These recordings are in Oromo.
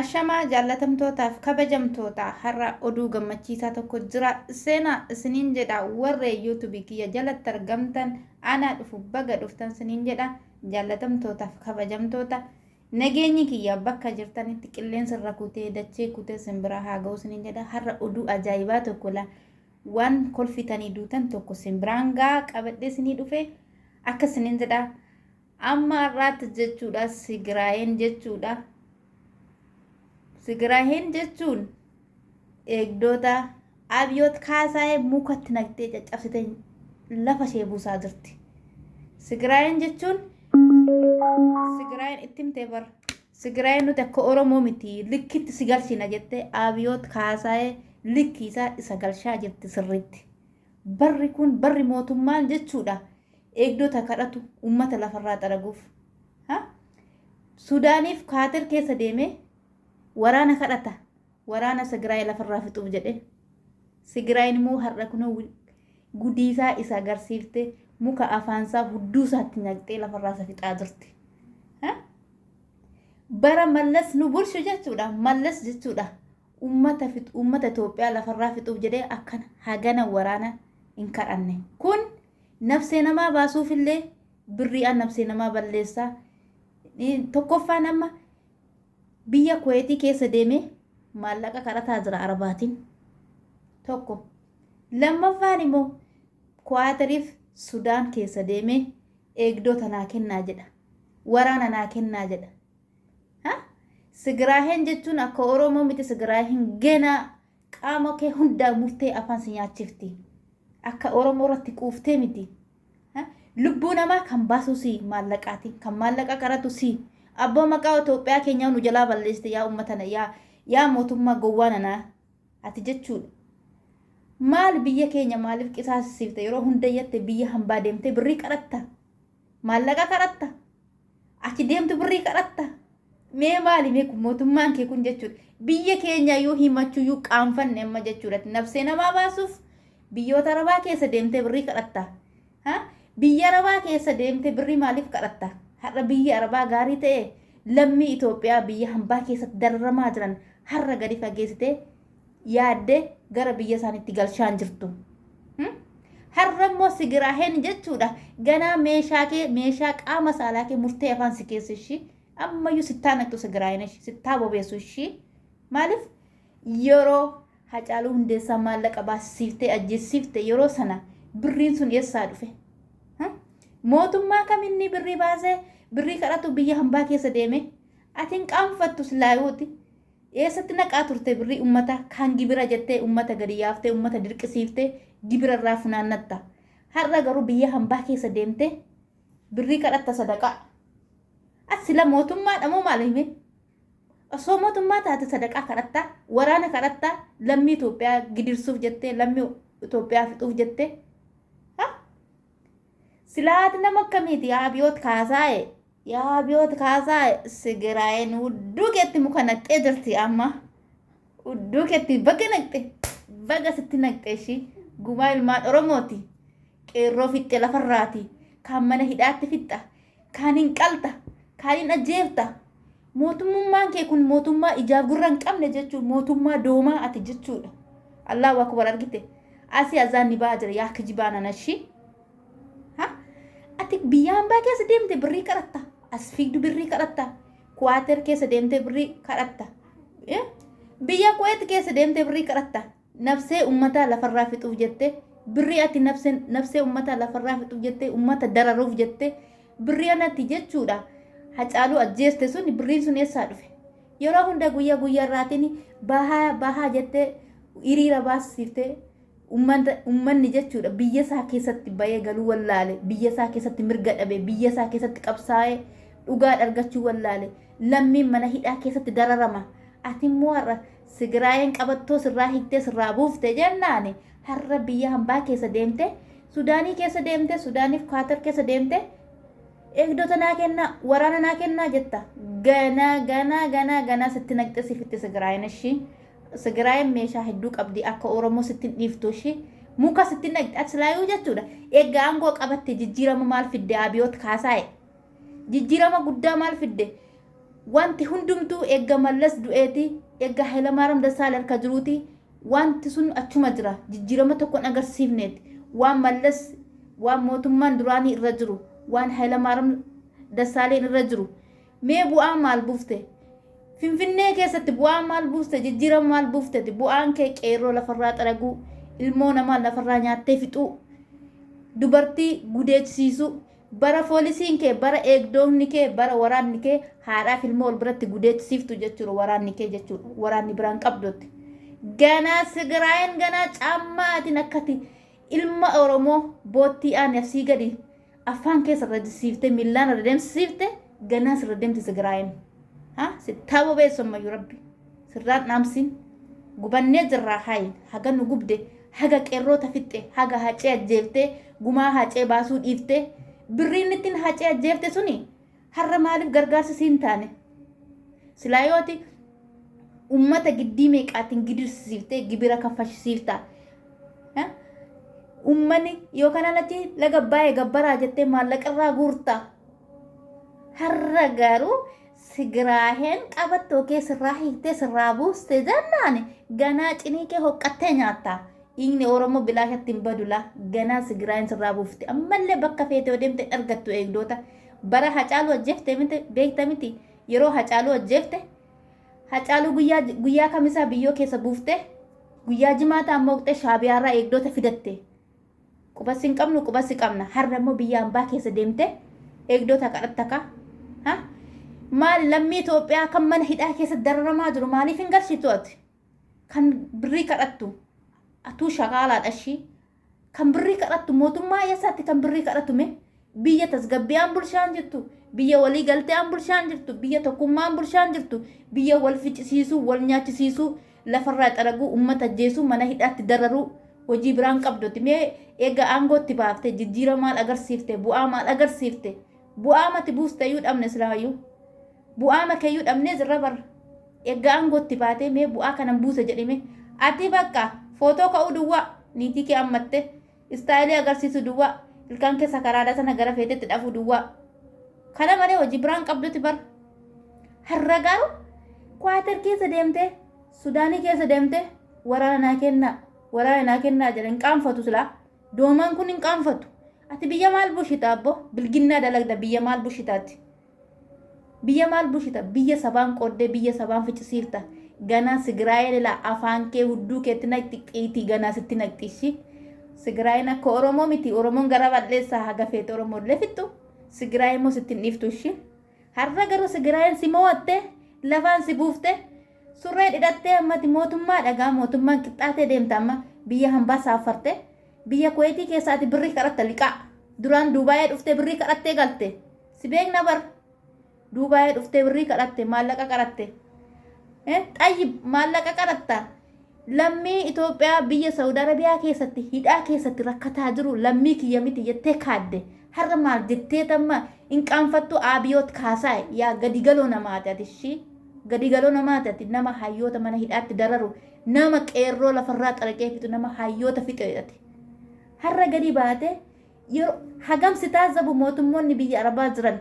Ashamaa jaallatamtootaaf kabajamtoota har'a oduu gammachiisaa tokko jira seenaa isiniin jedha warree yuutubii kiyya jalatti argamtan aanaa dhufu baga dhuftan isiniin jedha jaallatamtootaaf kabajamtoota nageenyi kiyya bakka jirtanitti qilleensa irra kutee dachee kutee simbira haa ga'u isiniin jedha har'a oduu ajaa'ibaa tokko la Wan kolfitani dutan tokko sin biraan gaa qabadhe sini dhufe akka sinin jedha amma arraatti jechuudha sigiraayen jechuudha sigiraayen jechuun eegdoota abiyot kaasaa'ee mukatti naqxee caccabsite lafa ishee buusaa jirti sigiraayen jechuun sigiraayen ittimte bar Tigiraay nuti akka Oromoo miti likkitti si galchina jettee Abiyoot Kaasaayee likki isaa isa galchaa jirti sirriitti. Barri kun barri mootummaan jechuudha eegdota kadhatu uummata lafarraa xaraguuf. Sudaaniif Kaater keessa deemee waraana kadhata. Waraana Sigraay lafarraa fixuuf jedhee. Sigraayin immoo har'a kunoo gudiisaa isa agarsiifte muka afaansaa hudduusaatti nyaqxee lafarraa isa fixaa turte. Bara mallas nu bulchu jechuudha. Mallas jechuudha. Uummata uummata Itoophiyaa lafarraa fixuuf jedhee akkana hagana waraana hin kadhanne. Kun nafsee namaa baasuufillee birriidhaan nafsee namaa balleessaa. Tokkoffaan amma Biyya Kuweetii keessa deemee maallaqa kadhataa jira Arabaatiin. Tokko. Lammaffaan immoo Kuwaatariif Sudaan keessa deemee eegdota naa kennaa jedha. Waraana naa kennaa jedha. Ha? Sigiraaheen jechuun akka Oromoo miti Sigiraaheen ganaa qaama kee hundaa murtee afaan si nyaachifti. Akka Oromoo irratti quuftee miti. Lubbuu namaa kan baasuu si maallaqaati. Kan maallaqa qaratu si. Abboo maqaa Itoophiyaa keenyaa nu jalaa balleessite yaa uummata na yaa yaa mootummaa gowwaa nanaa ati jechuudha. Maal biyya keenya maaliif qisaasisiifte yeroo hunda yatte biyya hambaa deemtee birrii qaratta. Maallaqa qaratta. achi deemtu birrii kadhatta mee maali mee kun mootummaan kee kun jechuudha biyya keenya yoo himachuu yoo qaanfanne amma jechuudha nabsee namaa baasuuf biyyoota arabaa keessa deemtee birrii kadhatta ha biyya arabaa keessa deemtee birrii maaliif kadhatta har'a biyya arabaa gaarii ta'e lammii Itoophiyaa biyya hambaa keessatti dararamaa jiran har'a gadi fageessitee yaaddee gara biyya isaaniitti galchaan jirtu. Hmm? Har'a immoo sigiraaheen jechuudha ganaa meeshaa kee meeshaa qaama saalaa kee murtee afaan si keessa ishii ammayyuu sittaa naqxu sigiraaheen ishii sittaa bobeessu ishii maaliif yeroo hacaaluu hundeessaa maallaqa baasisiiftee ajjeessiifte yeroo sana birriin sun eessaa dhufe. Hmm? Mootummaa kaminni birrii baasee birrii kadhatu biyya hambaa keessa deeme atiin qaanfattu silaayuuti. Eessatti naqaa turte birrii ummata kan gibira jettee ummata gadi yaaftee ummata dirqisiiftee gibira irraa funaannatta. Har'a garuu biyya hambaa keessa deemtee birrii kadhatta sadaqaa. Ati sila mootummaadha moo maal hime? Osoo mootummaa taate sadaqaa kadhatta, waraana kadhatta, lammii Itoophiyaa gidirsuuf jettee, lammii Itoophiyaa fixuuf jettee. Ha? Silaa ati nama akkamiiti yaa Abiyoot Kaasaaye? Yaa Abiyoot Kaasaaye Sigiraayeen udduu keetti muka naqxee jirti amma. Udduu keetti baga naqxe baga sitti naqxe ishii gumaa ilmaan Oromooti. Qeerroo fixxe lafarraati. Kaan mana hidhaatti fixxa. Kaan hin qalta. Kaan hin ajjeefta. Mootummummaan kee kun mootummaa ijaaf gurra hin qabne jechuun mootummaa doomaa ati jechuudha. Allahu akbar argite. Asi azaan ni baha jira yaa kijibaa nanashi. Ha? Ati biyya ambaa keessa deemte birrii kadhatta. As fiigdu birrii kadhatta. Kuwaater keessa deemte birrii kadhatta. Eh? Biyya Kuweet keessa deemte birrii kadhatta. Nabsee ummataa lafarraa fixuuf jette birrii ati nabseen nabsee ummataa lafarraa fixuuf jette ummata dararuuf jette birrii anatti jechuudha hacaaluu ajjeeste sun birriin sun eessaa dhufe yeroo hunda guyyaa guyyaa irraatiin bahaa bahaa jettee hiriira baasifte ummata ummanni jechuudha biyya isaa keessatti bayee galuu wallaale biyya isaa keessatti mirga dhabe biyya isaa keessatti qabsaa'ee dhugaa dhargachuu wallaale lammiin mana hidhaa keessatti dararama ati immoo har'a Sigiraayeen qabattoo sirraa hiiktee sirraa buufte jennaani har'a biyya hambaa keessa deemte Sudaanii keessa deemte Sudaaniif Kaatar keessa deemte eegdota naa kennaa waraana naa kennaa jetta ganaa ganaa ganaa ganaa sitti naqxe sifitti sigiraayeen ishii sigiraayeen meeshaa hedduu qabdi akka Oromoo sitti hin dhiiftu ishii muka sitti naqxe ati silaayuu jechuudha egaa aangoo qabatte jijjiirama maal fidde abiyoot kaasaa'e jijjiirama guddaa maal fidde Wanti hundumtuu eegga Mallas du'eeti, eegga Haylamaaram Dassaale harka jiruuti, wanti sun achuma jira. Jijjiirama tokko hin agarsiifneet. Waan Mallas, waan mootummaan duraanii irra jiru, waan Haylamaaram Dassaaleen irra jiru. Mee bu'aa maal buufte? Finfinnee keessatti bu'aa maal buuste? Jijjiirama maal buufteti? Bu'aan kee qeerroo lafarraa xaraguu, ilmoo namaa lafarraa nyaattee fixuu, dubartii gudeechisiisuu, Bara foolisiin kee, bara eegdoonni kee, bara waraanni kee haadhaa fi ilmoo wal biratti gudeedsiftu jechuudha waraanni kee jechuudha. Waraanni biraan qabdutti. Ganaa Sigiraayin ganaa caammaatiin akkati ilma Oromoo boottii aani asii gadi afaan keessa irra jisiifte millaan irra deemsisiifte ganaa sirra deemti Sigiraayin. Ha? Sittaaboo beessu ammayyu rabbi. Sirraan dhaamsin. Gubannee jirraa hayin haga nu gubde haga qeerroo ta fixxe haga hacee ajjeefte gumaa hacee baasuu dhiifte birriin ittin hacee ajjeefte suni harra maaliif gargaarsa siin taane silaa yooti ummata giddii meeqaatiin gidirsiifte gibira kaffashisiifta ummani yoo kanaan achi laga baay'ee gabbaraa jettee maallaqarraa guurta harra garuu Sigiraaheen qabattoo kee sirraa hiiktee sirraa buuste jennaan ganaa cinii kee hoqqattee nyaatta. Dhiigni Oromoo bilaashatti hin badu laa ganaa Sigiraaheen sirraa buufte. Ammallee bakka feete yoo deemte hin argattu eegdoota. Bara Hacaaluu ajjeefte miti beekta miti yeroo Hacaaluu ajjeefte Hacaaluu guyyaa guyyaa kamisaa biyyoo keessa buufte guyyaa jimaataa mooqxee shaabiyaarraa eegdoota fidatte. Quba sin qabnu quba si qabna har'a immoo biyya ambaa keessa deemte eegdota kadhatta ka ha maal lammii Itoophiyaa kan mana hidhaa keessa dararamaa jiru maaliif hin garsiitu ati kan birrii kadhattu atuu shakaalaadha ishii kan birrii kadhattu mootummaa eessaatti kan birrii kadhatu mee biyya tasgabbi'aan bulshaan jirtu biyya walii galte'aan bulshaan jirtu biyya tokkummaan bulshaan jirtu biyya wal ficcisiisuu wal nyaachisiisuu lafarraa xaraguu ummata ajjeesuu mana hidhaatti dararuu hojii biraan qabdutti mee eega aangootti baafte jijjiira maal agarsiifte bu'aa maal agarsiifte bu'aa mati buuste iyyuu dhabne silaayyuu bu'aa makee iyyuu dhabnees irra bar eega aangootti baatee mee bu'aa kanan buuse jedhime ati bakka footoo ka'uu duwwaa niitii kee ammatte Istaayilii agarsiisuu duwwaa. Ilkaan kee sakaraadha sana gara feetetti dhafuu duwwaa. Kana malee hojii biraan qabdutti bar. Har'a garuu Kwaatar keessa deemtee Sudaanii keessa deemtee waraana naa kennaa waraana naa kennaa jedhan qaanfatu silaa doomaan kun hin qaanfatu. Ati biyya maal bushita abbo bilginnaa dalagda biyya maal bushitaatti. Biyya maal bulchita? Biyya sabaan qooddee biyya sabaan ficcisiifta. Ganaa Sigiraayeen ilaa afaan kee hudduu keetti naqxi qiitii ganaa sitti naqxi ishii. Sigiraayeen akka Oromoo miti. Oromoon gara bal'eessaa haga feete Oromoo illee fixxu. Sigiraayeen immoo sitti hin dhiiftu ishii. Har'a garuu Sigiraayeen si moo'attee lafaan si buuftee surree dhidhattee ammati mootummaa dhagaa mootummaan qixxaatee deemta amma biyya hambaa saaffartee biyya kuweetii keessaati birrii kadhatta liqaa. Duraan Duubaayee dhuftee birrii kadhattee galte. Si beekna bar. Duubaayii dhuftee birrii kadhatte maallaqa qaratte. Eh, Xayyib maallaqa qaratta. Lammii Itoophiyaa biyya Saudi Arabiyaa keessatti hidhaa keessatti rakkataa jiru lammii kiyya miti jettee kaadde. Har'a maal jettee tamma hin qaanfattu Abiyoot Kaasaay yaa gadi galoo namaati ati ishii. Gadi galoo namaati ati nama hayyoota mana hidhaatti dararu nama qeerroo lafarraa xaraqee fixu nama hayyoota fixeedhati. Har'a gadi baate Yeroo hagam si taazzabu mootummoonni biyya Arabaa jiran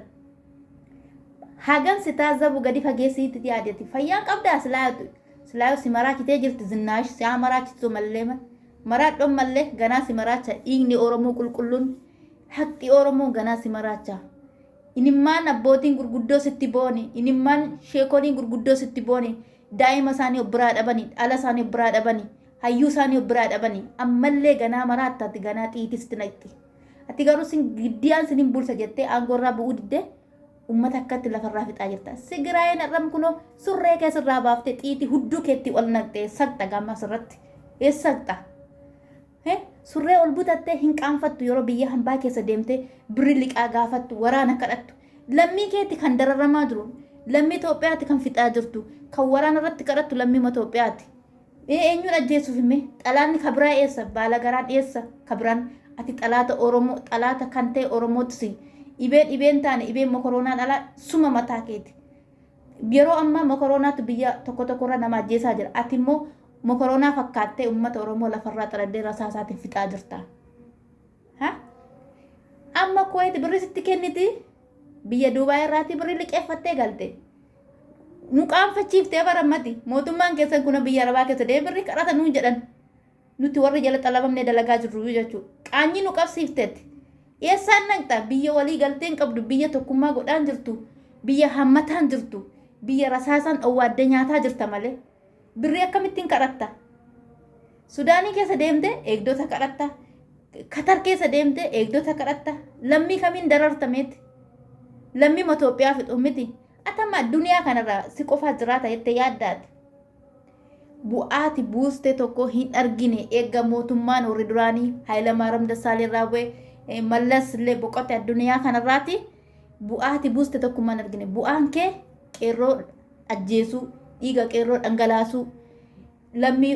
hagam si taazzabu gadi fageessiitti yaadati. Fayyaan qabdaa silaayatu silaayoo si maraachitee jirti zinnaash si haa maraachitu mallee mal. Maraadhoon mallee ganaa si maraacha dhiigni Oromoo qulqulluun haqxi Oromoo ganaa si maraacha. Inimmaan abbootiin gurguddoo sitti booni inimmaan sheekoliin gurguddoo sitti booni daa'ima isaanii of biraa dhabani dhala isaanii of biraa dhabani Hayyuu isaanii of biraa dhabani. Ammallee ganaa maraatta ati ganaa xiyiitii sitti naqxi. Ati garuu sin giddiyaan sinin bulcha jettee aangoo irraa bu'uu diddee ummata akkatti lafarraa fixaa jirta. Sigiraayeen har'am kunoo surree kee sirraa baaftee xiyiitii hudduu keetti ol naqxee saqxa gaammaa sirratti. Ee saqxa. Ee surree ol butattee hin qaanfattu yeroo biyya hambaa keessa deemtee birri liqaa gaafattu waraana kadhattu. Lammii keetti kan dararamaa jiru lammii Itoophiyaatti kan fixaa jirtu kan waraana irratti kadhattu lammii Itoophiyaatti. Ee eenyuun ajjeesuufi mee? Xalaanni ka biraa eessa? Baalagaraan eessa? Ka biraan? Ati xalaata Oromoo, xalaata kan ta'e Oromootu si. Dhibee dhibeen taane, dhibeen mokoroonaan alaa suma mataa keeti. Yeroo ammaa mokoroonaatu biyya tokko tokkorra nama ajjeesaa jira. Ati immoo mokoroonaa fakkaattee uummata Oromoo lafarraa xaladdee rasaasaatiin fixaa jirta. Ha? Amma Kuwait birri sitti kenniti. Biyya Duubaay irraatii birri liqeeffattee galte. Nu qaanfachiiftee barammati. Mootummaan keessan kuna biyya Arabaa keessa deemee birri kadhata nuun jedhan. Nuti warri jala xalabamnee dalagaa jirru jechuudha. Qaanyii nu qabsiifteetti. Eessaan naqxa? Biyya walii galtee hin qabdu, biyya tokkummaa godhaan jirtu, biyya hammataan jirtu, biyya rasaasaan dhowwaadde nyaataa jirta malee. Birrii akkamittiin kadhatta? Sudaanii keessa deemtee eegdota kadhatta. Katar keessa deemtee eegdota kadhatta. Lammii kamiin dararta meetti? Lammii Itoophiyaa fixu miti. Atama addunyaa kanarra si qofaa jiraata jettee yaaddaati. Bu'aati buuste tokko hin argine eegga mootummaan warri duraanii Haayilamaaram Dassaalee irraa bu'e eh, Mallas illee boqote addunyaa kanarraati. Bu'aati buuste tokkummaan argine. Bu'aan kee qeerroo ajjeesuu, dhiiga qeerroo dhangalaasuu, lammii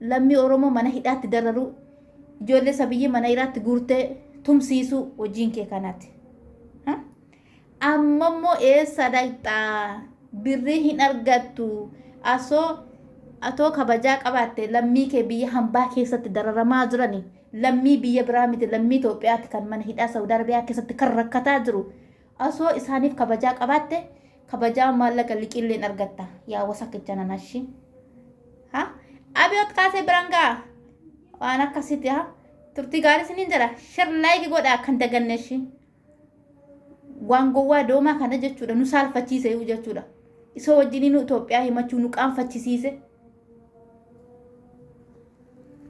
lammii Oromoo mana hidhaatti dararuu, ijoollee sabiyyii mana hidhaatti guurtee tumsiisuu hojiin kee kanati. Ha? Amma immoo eessa dhaqxaa? Birrii hin argattu. Asoo atoo kabajaa qabaatte lammii kee biyya hambaa keessatti dararamaa jirani. Lammii biyya biraa miti lammii Itoophiyaatti kan mana hidhaa Saawud Arabiyaa keessatti kan rakkataa jiru. Osoo isaaniif kabajaa qabaatte kabajaa maallaqa liqiilleen argatta yaa wasakka jananashi ha abiyoot kaasee biraan ga'a waan akkasitti ha turtii gaarii isiniin jedha shir laayiki godhaa kan daganneshi waan gowwaa doomaa kana jechuudha nu saalfachiise iyyuu jechuudha isa wajjin nu Itoophiyaa himachuu nu qaanfachisiise